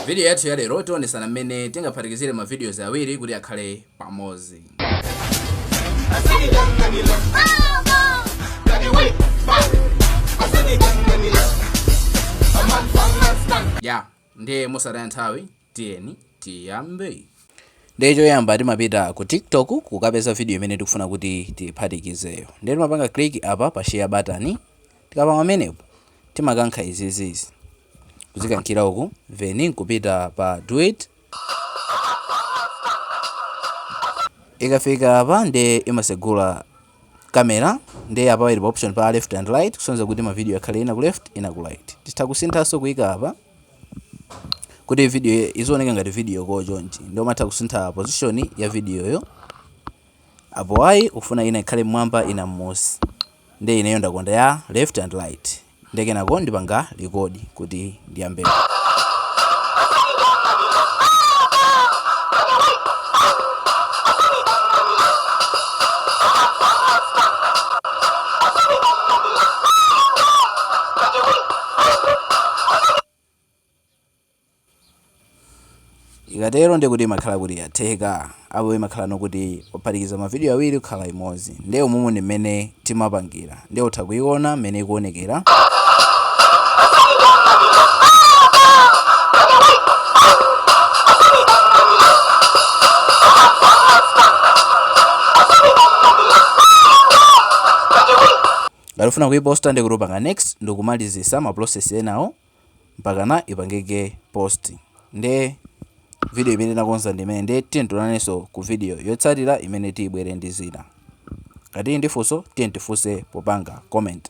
Vidiyo yathu ya lero tionesana mmene tingaphatikizire ma videos awiri kuti akhale pamodzi. Ya, ndiye mosataya nthawi, tiyeni tiyambe. Ndiye choyamba timapita ku TikTok kukapeza video imene tikufuna kuti tiphatikizeyo. Ndiye timapanga click apa pa share button. Tikapanga pamenepo timakankha izizizi. kuzikankhira uku then kupita pa duet ikafika apa nde imasegula kamera nde apa ili pa option pa left and right kusonyeza kuti mavidiyo yakhale ina ku left ina ku right titha kusinthanso kuyika apa kuti video izioneka ngati video call chonchi ndi umatha kusintha position ya videoyo Apo ayi ukufuna ina ikhale mmwamba ina mmusi nde ineyo ndakonda ya left and right nde kenako ndipanga record kuti ndiyambe. Ikatero ndiye kuti imakhala kuti yatheka. Apo imakhala ano kuti waphatikiza mavidiyo awiri kukhala imodzi. Ndiye umumu ndi mmene timapangira. Ndiye utha kuiona mmene ikuonekera. Ngati ufuna kuiposta ndiye kuti upanga next ndikumalizisa ma process enawo mpakana ipangike post nde video imene tinakonza ndi imeneyi nde tiyeni tionanenso ku video yotsatira imene tibwere ndi zina ngati tili ndi funso tiyeni tifunse popanga comment